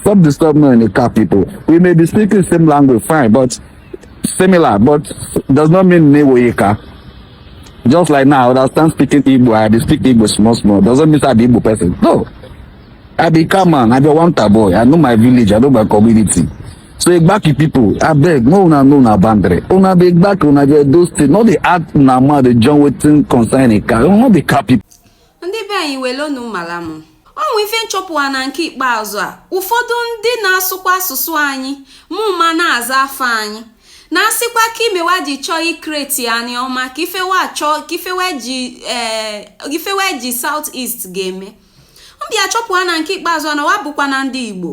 Stop disturbing me in the car, people. We may be speaking the same language, fine, but similar, but does not mean Newoyeka. Just like now, I stand speaking Igbo, I be speak Igbo small, small. Doesn't mean I be Igbo person. No. I be Kaman, I be Wanta boy. I know my village, I know my community. So Igbaki people, I beg, no una no una bandre. Una be Igbaki, una be those things. Not the art, una ma, the John Wetton concerning car. Not the car people. ndị be anyị welonu mara m ọ nwe ife nchọpụwa na nke ikpeazụ a ụfọdụ ndị na-asụkwa asụsụ anyị mụ ma na-aza afa anyị na-asịkwa ka ime wa ji chọọ ikreti anịọma ka ife wa chọọ ka ife wa ji ee eh, ife wa ji south east ga-eme m bịa chọpụwa na nke ikpeazụ na wa bụkwa na ndị igbo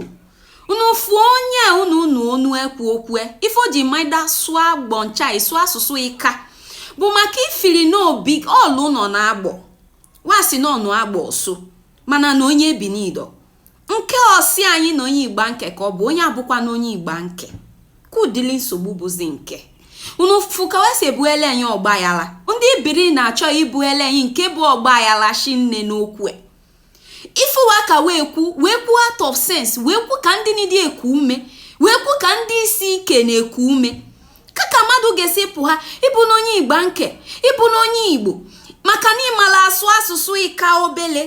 unu fụọ onye a unu unu onu ekwu okwu e, ife o ji maida sụọ agbọ ncha ịsụ asụsụ ịka bụ maka ifiri n'obi ọlụ nọ na agbọ wa sị na ọnụ agbọ ọsụ mana na onye bi n'ido nke ọ sị anyị na onye igbanke ka ọ bụ onye abụkwa na onye igbanke ka ụdịlị nsogbu bụzi nke unu fụ ka we si ebuele anyị ọgbaghala ndị bini na-achọ ibuele anyị nke bụ ọgbaghala shinne n'okwu e. ife wa ka wee kwu wee kwu out of sense wee kwu ka ndị nidi eku ume wee kwu ka ndị isi ike na-eku ume ka ka mmadụ ga-esi pụ ha ịbụ na onye igbanke ịbụ na onye igbo maka na ị mala asụ asụsụ ịka obele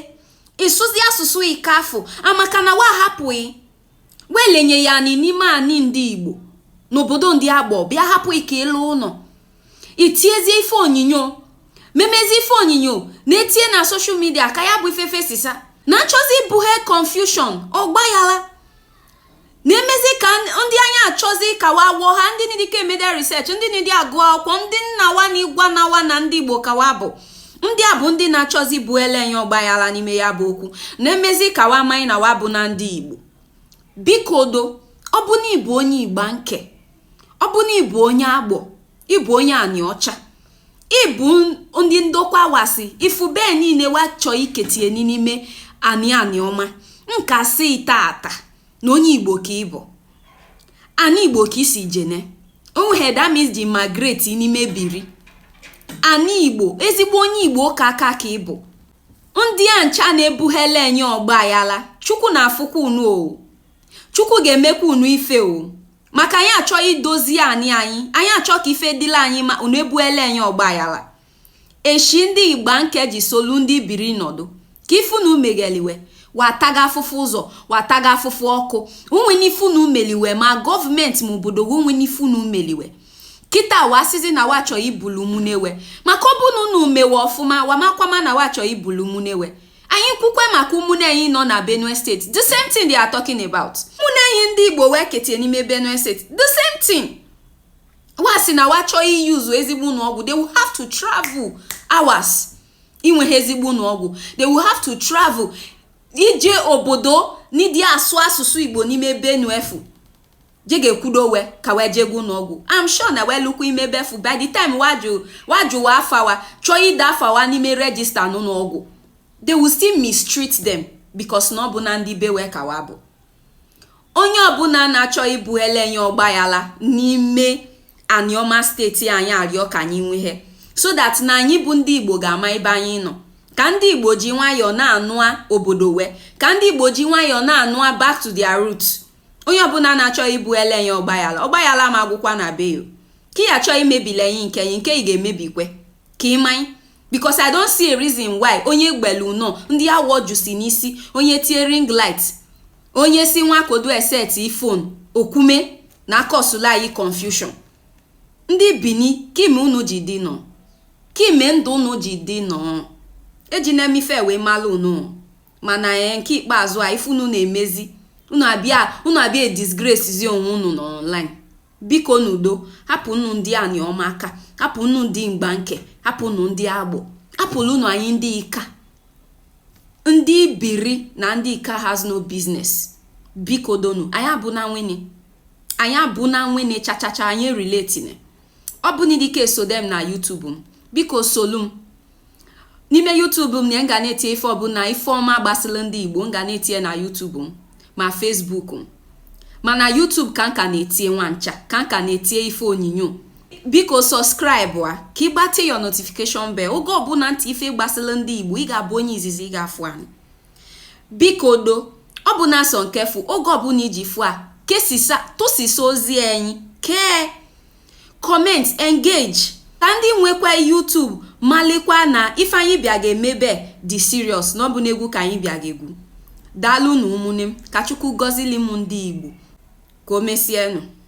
ị sụzi asụsụ ịka afụ maka na wa hapụghị wee lenye ya anị n'ime anị ndị igbo n'obodo ndị agbọ bịa hapụ ike ịlụ ụlọ i tiezi ife onyinyo memezi ife onyinyo na-etie na soshal midia ka ya bụ ife fesisa na achọzi ibughe confusion ọgbaghala na-emezi ka ndị anya achọzi ka wa wụọ ha ndị nidike eme the research ndị nidi agụ akwụkwọ ndị nna wa na igwa na wa na ndị igbo ka wa bụ ndị a bụ ndị na-achọzi ibuele anyị ọgbaghala n'ime ya bụ okwu na-emezi ka wa amaghị na wa bụ na ndị igbo biko do ọ bụ na ị bụ onye igbanke ọ bụ na ị bụ onye agbọ ị bụ onye anịọcha ị bụ ndị ndokwa wa sị ị fụ ebe niile wa chọọ iketie n'ime anị anịọma nka si tata na onye igbo ka ị bụ anị igbo ka i si jene onweghị damis ji migrate n'ime biri anị igbo ezigbo onye igbo ka aka ka ị bụ ndị a ncha na-ebughele anyị ọgbaghala chukwu na afụkwa unu o chukwu ga-emekwa unu ife o maka anyị achọ idozi anị anyị anyị achọ ka ife dịla anyị mma unu ebuele anyị ọgbaghala eshi ndị igbanke ji solu ndị bini nọdụ ka ife unu megheli we wa taga afụfụ ụzọ wa taga afụfụ ọkụ o nwene ife unu meli we ma gọọmenti ma obodo gị o nwene ife unu meli we kịta wa asịzi na wa chọọ ibulu ụmụnne we maka ọ bụrụ na unu me we ọfụma wa amakwama na wa chọọ ibulu ụmụnne we anyị kwukwe maka ụmụnne anyị nọ na benue steeti the same thing they are talking about ụmụnne anyị ndị igbo wee ketie n'ime benue steeti the same thing wa si na wa chọọ i use ezigbo ụlọ ọgwụ they will have to travel hours inwehe ezigbo ụlọ ọgwụ they will have to travel ije obodo n'ịdị asụ asụsụ igbo n'ime benue fụ je ga-ekwudo we ka wee jee ga ụlọ ọgwụ I'm sure na wee lukwa ime ebe fụ by the time wa jụ wa afa wa chọọ ide afa wa n'ime register n'ụlọ ọgwụ they will still mistreat them because na ọ bụna ndị be we ka wa bụ onye ọbụna na-achọ ibuele anyị ọgbayala n'ime aniọma steeti anyị arịọ ka anyị nwehe so that na anyị bụ ndị igbo ga-ama ebe anyị nọ ka ndị igbo ji nwayọọ na-anụa obodo we ka ndị igbo ji nwayọọ na-anụa back to their roots onye ọbụna na-achọ ibuele anyị ọgbayala ọgbayala ama agwụkwa na be yo ka ị achọ imebila anyị nke anyị nke ị ga-emebikwe ka ị manye because i don't see a reason why onye gbelu nọ ndị awọ jusi n'isi onye tie ring light onye si nwa kodu eset phone okwume na akọsụla anyị confusion ndị bini kime unu ji dị nọ kime ndụ unu ji dị nọ eji na emife wee malụ unu mana ee eh, nke ikpeazụ a ife unu na-emezi unu abịa disgrace zi onwe unu n'online Biko n'udo, hapụnụ ndị Anioma aka, hapụnụ ndị Igbanke, hapụnụ ndị Agbọ, hapụlụnụ anyị ndị Ika, ndị Bini na ndị Ika has no business. Biko donu, anyị abụna nwenne, anyị abụna nwenne chachacha anyị relatine. Ọ bụ n'idike esode m na YouTube m, biko solu m. n'ime YouTube m na m ga na-etinye ife ọbụla ife ọma gbasịla ndị Igbo m ga na-etinye na YouTube m ma Facebook m mana YouTube ka m ka na-etinye nwa ncha ka m ka na-etinye ife onyinyo biko subscribe a ka ị gbatị your notification bell oge ọbụla m tie ife gbasịla ndị Igbo ị ga-abụ onye izizi ga-afụ anyị biko do ọ bụna sọ nke fụ oge ọbụla iji fụ a kesisa tụsisa ozi anyị kee comment engage ka ndị nwekwa YouTube malikwa na ife anyị bịa ga-emebe dị serious na ọ bụna egwu ka anyị bịa ga-egwu daalụnụ ụmụnne m ka Chukwu gọzili m ndị Igbo ka o mesienụ